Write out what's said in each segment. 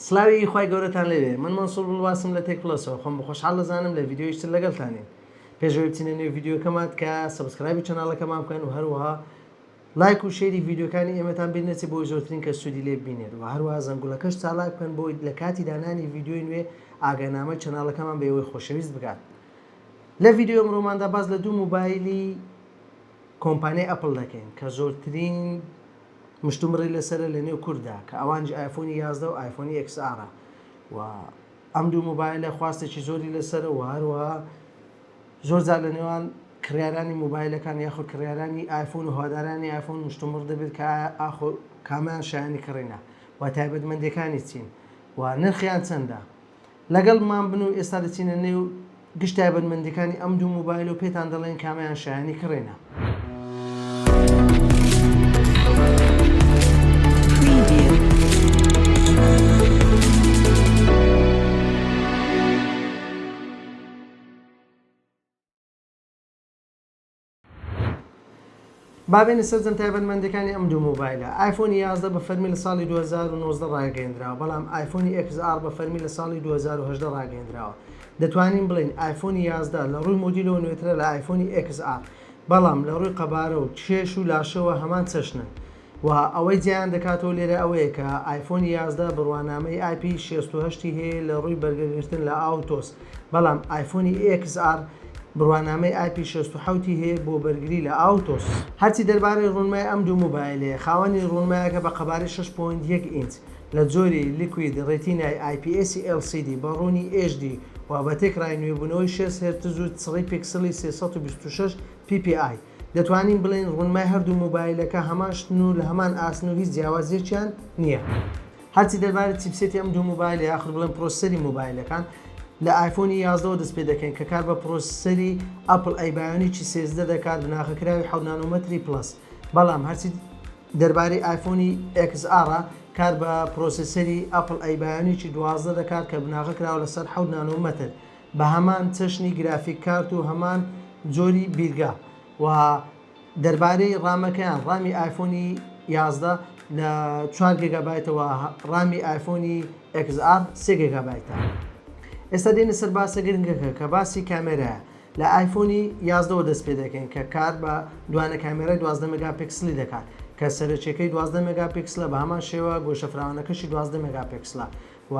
سڵاوی خوای گەورەتان لێبێ من مەنسور بڵواسم لە تێک پڵەسەوە خۆم بەخۆشحاڵ دەزانم لە ڤیدیۆیش تر لەگەڵتانین پێش ئەوەی بچینە نێو ڤیدیۆکەمان تکایە سەبسکرایبی چەناڵەکەمان بکەن و هەروەها لایک و شێری ڤیدیۆکانی ئێمەتان بیر نەچێت بۆی زۆرترین کەس سوودی لێ ببینێت و هەروەها زەنگوڵەکەش چالاک بکەن بۆی لە کاتی دانانی ڤیدیۆی نوێ ئاگانامەی چەناڵەکەمان بە ئێوەی خۆشەویست بگات لە ڤیدیۆ ئەمڕۆماندا باس لە دوو موبایلی کۆمپانیای ئەپڵ دەکەین کە زۆرترین مشتومڕی لەسەرە لە نێو کورددا کە ئەوانیش ئایفۆنی یازدە و ئایفۆنی ئێکس ئاڕە و ئەم دوو موبایلە خواستێکی زۆری لەسەرە و هەروەها زۆر جار لە نێوان کڕیارانی موبایلەکان یاخود کڕیارانی ئایفۆن و هەوادارانی ئایفۆن مشتومڕ دەبێت کە ئایا ئاخۆ کامیان شایەنی کڕینە و تایبەتمەندیەکانی چین و نرخیان چەندە؟ لەگەڵمان بن و ئێستا دەچینە نێو گشت تایبەتمەندیەکانی ئەم دوو مۆبایل و پێتان دەڵێن کامەیان شایەنی کڕینە. با بێینە سەرجەم تایبەتمەندەکانی ئەم دوو مۆبایلە ئایفۆنی 11 بە فەرمی لە ساڵی 2019 ڕاگەندراوە بەڵام ئایفۆنی XR بە فەرمی لە ساڵی 2010 ڕاگەندراوە دەتوانین بڵین ئایفۆنی 11 لە ڕووی مدیلەوە نوێترە لە ئایفۆنی XR بەڵام لە ڕووی قەبارە و کێش و لاشەوە هەمان چەشنن وە ئەوەی جیایان دەکاتەوە لێرە ئەوەیە کە ئایفۆنی یازدە بڕوانامەی ئای پی شێست و هەشت ی هەیە لە ڕووی بەرگە گرتن لە ئاو و تۆز بەڵام ئایفۆنی ئێکس ئاڕ بڕوانامەی ئای پی شێست و حەوت ی هەیە بۆ بەرگری لە ئاو و تۆز. هەرچی دەربارەی ڕوونمای ئەم دوو موبایلەیە خاوەنی ڕوونمایەکە بە قەبارەی شەش پۆینت یەک ئینچ لە جۆری لیکوید ڕێتینای ئای پی ئێسی ئێل سی دی بە ڕوونی ئێچ دی و بە تێکڕای نوێبوونەوەی شێست هێرتز و چڕی پیکسڵی سێ سەد و بیست و شەش پی پی ئای دەتوانین بڵێین ڕوونمای هەردوو مۆبایلەکە هەمان شتن و لە هەمان ئاستن و هیچ جیاوازیەکیان نییە هەرچی دەربارەی چیپسێتی ئەم دوو مۆبایل یاخود بڵێن پرۆسەری مۆبایلەکان لە ئایفۆنی یازدەوە دەست پێ دەکەین کە کار بە پرۆسەری ئەپڵ ئەی بایۆنیکی سێزدە دەکات بناغە کراوی حەوت نانۆمەتری پڵەس بەڵام هەرچی دەربارەی ئایفۆنی ئێکس ئاڕە کار بە پرۆسەسەری ئەپڵ ئەی بایۆنیکی دوازدە دەکات کە بناغە کراوە لەسەر حەوت نانۆمەتر بە هەمان چەشنی گرافیک کارت و هەمان جۆری بیرگە و دەربارەی ڕامەکەیان ڕامی ئایفۆنی یازدە لە چوار گێگابایتەوە ڕامی ئایفۆنی XR سێ گێگابایتە ئێستا دێنە سەر باسە گرنگەکە کە باسی کامێرایە لە ئایفۆنی یازدەوە دەست پێ دەکەین کە کار بە دوانە کامێرای دوازدە مێگا پیکسلی دەکات کە سەرەکیەکەی دوازدە مێگا پیکسلە بە هەمان شێوە گۆشە فراوانەکەشی دوازدە مێگا پیکسلە و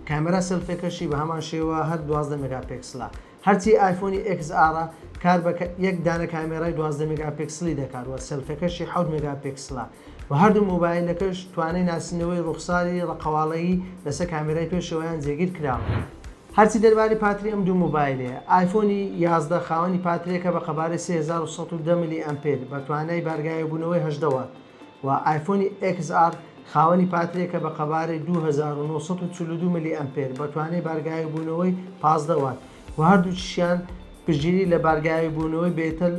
کامێرا سێلفێکەشی بە هەمان شێوە هەر دوازدە مێگا پێکسلە هەرچی ئایفۆنی ئێکس ئاڕە کار بە یەک دانە کامێرای دوازدە مێگا پێکسلی دەکات و سێلفێکەشی حەوت مێگا پێکسلە و هەردوو مۆبایلەکەش توانای ناسینەوەی ڕووخساری ڕەقەواڵەیی لەسەر کامێرای پێشەوەیان جێگیر کراوە. هەرچی دەربارەی پاتری ئەم دوو مۆبایلەیە ئایفۆنی یازدە خاوەنی پاترێکە بە قەبارەی سێ هەزار و سەد و دە ملی ئەمپێر بە توانای بارگاوێبوونەوەی هەژدە وات، و ئایفۆنی ئێکس ئاڕ خاوەنی پاترییەکە بە قەبارەی دوو هەزار و نۆ سەد و چل و دوو ملی ئەمپێر بە توانای بارگاویبوونەوەی پازدە وات و هەردووکیشیان پشتگیری لە بارگاویبوونەوەی بێتەل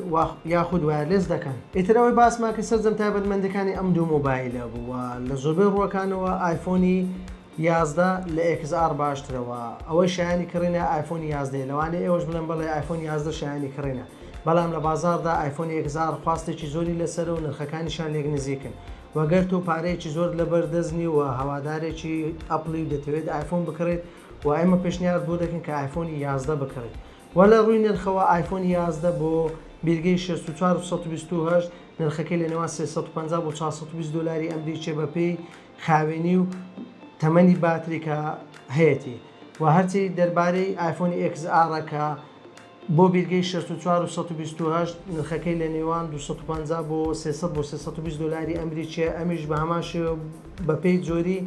یاخود وایەرلێس دەکەن. ئیتر ئەوەی باسمان کرد سەرجەم تایبەتمەندییەکانی ئەم دوو مۆبایلە بوو و لە زۆربەی ڕووەکانەوە ئایفۆنی. یازدە لە ئێکس ئاڕ باشترە وە ئەوەی شایەنی کڕینە ئایفۆنی یازدە یە لەوانەیە ئێوەش بڵێن بەڵێ ئایفۆنی یازدە شایەنی کڕینە بەڵام لە بازاڕدا ئایفۆنی ئێکس ئاڕ خواستێکی زۆری لەسەرە و نرخەکانیشان لێک نزیکن وە گەر تۆ پارەیەکی زۆرت لەبەر دەست نیە و هەوادارێکی ئەپڵی و دەتەوێت ئایفۆن بکڕیت وە ئێمە پێشنیارت بۆ دەکەین کە ئایفۆنی یازدە بکڕیت وە لە ڕووی نرخەوە ئایفۆنی یازدە بۆ بیرگەی شەست و چوار و سەد و بیست و هەشت نرخەکەی لە نێوان سێ سەد و پەنجا بۆ چوار سەد و بیست دۆلاری ئەمریکیە بەپێی خاوێنی و تەمەنی باتری کە هەیەتی وە هەرچی دەربارەی ئایفۆنی ئێکس ئاڕە کە بۆ بیرگەی شەست و چوار و سەد و بیست و هەشت نرخەکەی لە نێوان دوو سەد و پەنجا بۆ سێ سەد بۆ سێ سەد و بیست دۆلاری ئەمریکیە ئەمیش بە هەمان شێوە بە پێی جۆری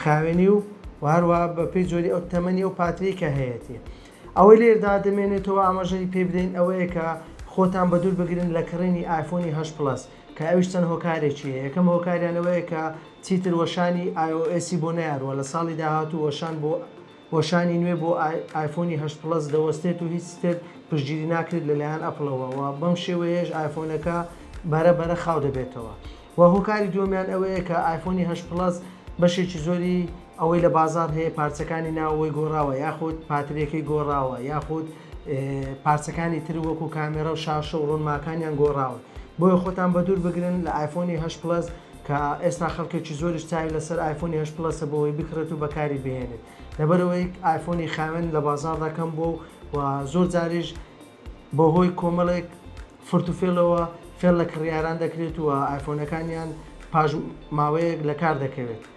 خاوێنی و وە هەروە بە پێی جۆری ئەو تەمەنی ئەو پاتری کە هەیەتی ئەوەی لێردا دەمێنێتەوە ئاماژەی پێ بدەین ئەوەیە کە خۆتان بە دوور بگرن لە کڕینی ئایفۆنی هەشت پڵەس کە ئەویش چەند هۆکارێکی هەیە یەکەم هۆکاریان ئەوەیە کە چیتر وەشانی ئای ئۆ ئێسی بۆ نەیاروە لە ساڵی داهاتوو وەشان بۆ وەشانی نوێ بۆ ئایفۆنی هەشت پڵەس دەوەستێت و هیچ تر پشتگیری ناکرێت لەلایەن ئەپڵەوە و بەم شێوەیەش ئایفۆنەکە بەرە بەرە خاو دەبێتەوە و هۆکاری دووەمیان ئەوەیە کە ئایفۆنی هەشت پڵەس بەشێکی زۆری ئەوەی لە بازاڕ هەیە پارچەکانی ناوەوەی گۆڕاوە یاخود پاتریەکەی گۆڕاوە یاخود پارچەکانی تر وەکو کامێرا و شاشە و ڕونماکانیان گۆڕاون بۆیە خۆتان بە دوور بگرن لە ئایفۆنی هەشت پڵەس کە ئێستا خەڵکێکی زۆریش چاوی لەسەر ئایفۆنی هەشت پڵەسە بۆی بکڕێت و بەکاری بهێنێت لەبەرەوەی ئایفۆنی خاوێن لە بازاڕدا کەم بووە و زۆر جاریش بەهۆی کۆمەڵێک فرت و فێڵەوە فێڵ لە کڕیاران دەکرێت و ئایفۆنەکانیان پاش ماوەیەک لە کار دەکەوێت.